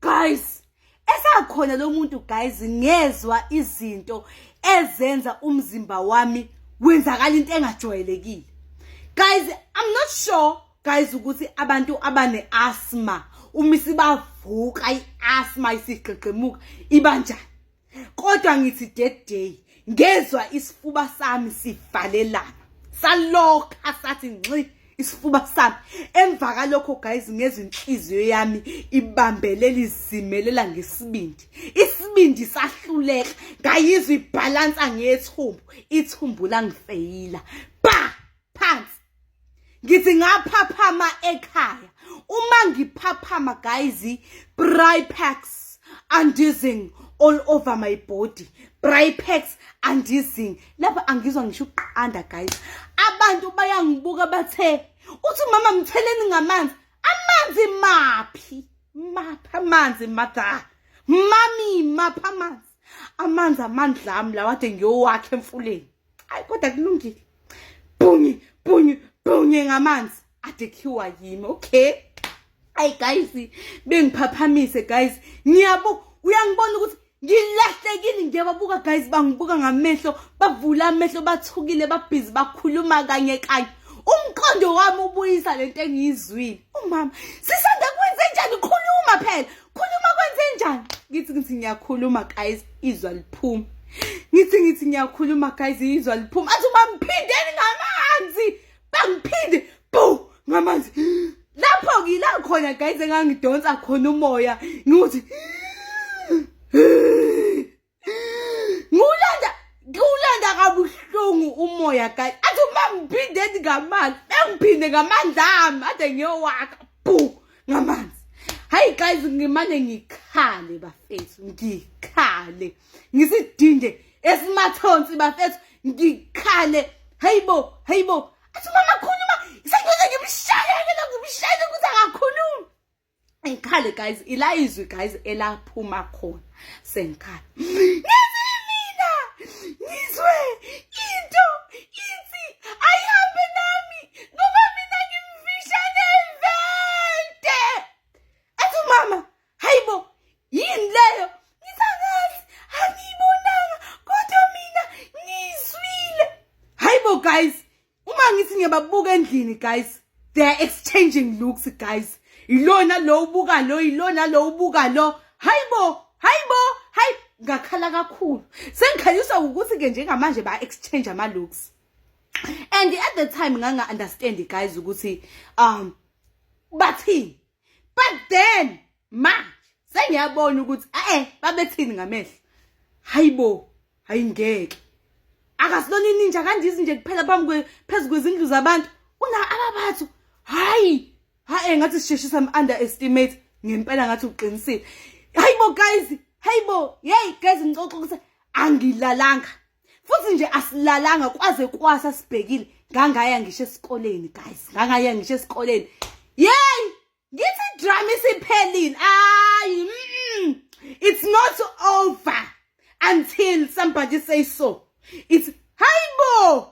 guys esakhona lo muntu guys ngezwa izinto ezenza umzimba wami wenzakala into engajwayelekile guys i'm not sure guys ukuthi abantu abane asthma uma isibavuka iasthma isigqigqimuka ibanjani kodwa ngithi that day ngezwa isifuba sami sivalelana salokha sathi nxi isifuba sami emva kalokho guys ngezinhliziyo yami ibambele lizimelela ngesibindi isibindi sahluleka ngayizwa ibhalansa ngethumbu ithumbu langifeyila ba phansi ngithi ngaphaphama ekhaya uma ngiphaphama guys bripex andizing all over my body bripex andizing lapha angizwa ngisho ukuqanda guys abantu bayangibuka bathe uthi mama mtheleni ngamanzi amanzi maphi maphi amanzi mada mami maphi amanzi amanzi amandla ami lawade ngiyowakhe emfuleni ayi kodwa kulungile bhunyi bhunyi bhunyi ngamanzi adikhiwa yimi okay ayi guys bengiphaphamise guys ngiyabo uyangibona ukuthi ngilahlekile ngiyababuka guys bangibuka ngamehlo bavula amehlo bathukile babhizi bakhuluma kanye kanye umqondo wami ubuyisa lento engiyizwile umama sisanda kwenze njani khuluma phela khuluma kwenze njani ngithi ngithi ngiyakhuluma guys izwa liphuma ngithi ngithi ngiyakhuluma guys izwa liphuma athi bangiphindeni ngamanzi bangiphinde bu ngamanzi lapho ngila khona guys engangidonsa khona umoya ngithi ngiwulanda ngiwulanda kabuhlungu umoya guys athi uma ngiphindeni ngamandla bengiphinde ngamandla ami ade ngiyowakha bu ngamanzi hayi guys ngimane ngikhale bafethu ngikhale ngisidinde esimathonsi bafethu ngikhale hayibo hayibo athi mama khuluma sengize ngimshayekela ngimshayele ukuthi akakhulumi ngikhale guys ila izwi guys elaphuma khona sengikhala ngizimina ngizwe into ithi ayihambe nami ngoba mina ngimfisha nevente athi umama hayibo yini leyo ngithangazi angiyibonanga kodwa mina ngizwile hayibo guys uma ngithi ngiyababuka endlini guys they are exchanging looks guys ilona lo ubuka lo ilona lo ubuka lo hayibo hayibo hayi ngakhala kakhulu sengikhanyiswa ukuthi ke njengamanje ba exchange ama looks and at the time nganga understand guys ukuthi um bathini but then ma sengiyabona ukuthi eh babethini ngamehlo hayibo hayingeke akasilona ininja kanje izinje kuphela phambi kwe phezulu kwezindlu zabantu una ababathu hayi ha engathi sisheshisa am underestimate ngempela ngathi uqinisile hayibo guys hayibo hey guys ngixoxa ukuthi angilalanga futhi nje asilalanga kwaze kwasa sibhekile ngangaya ngisho esikoleni guys ngangaya ngisho esikoleni yey ngithi drama isiphelile ayi mm, it's not over until somebody say so it's hayibo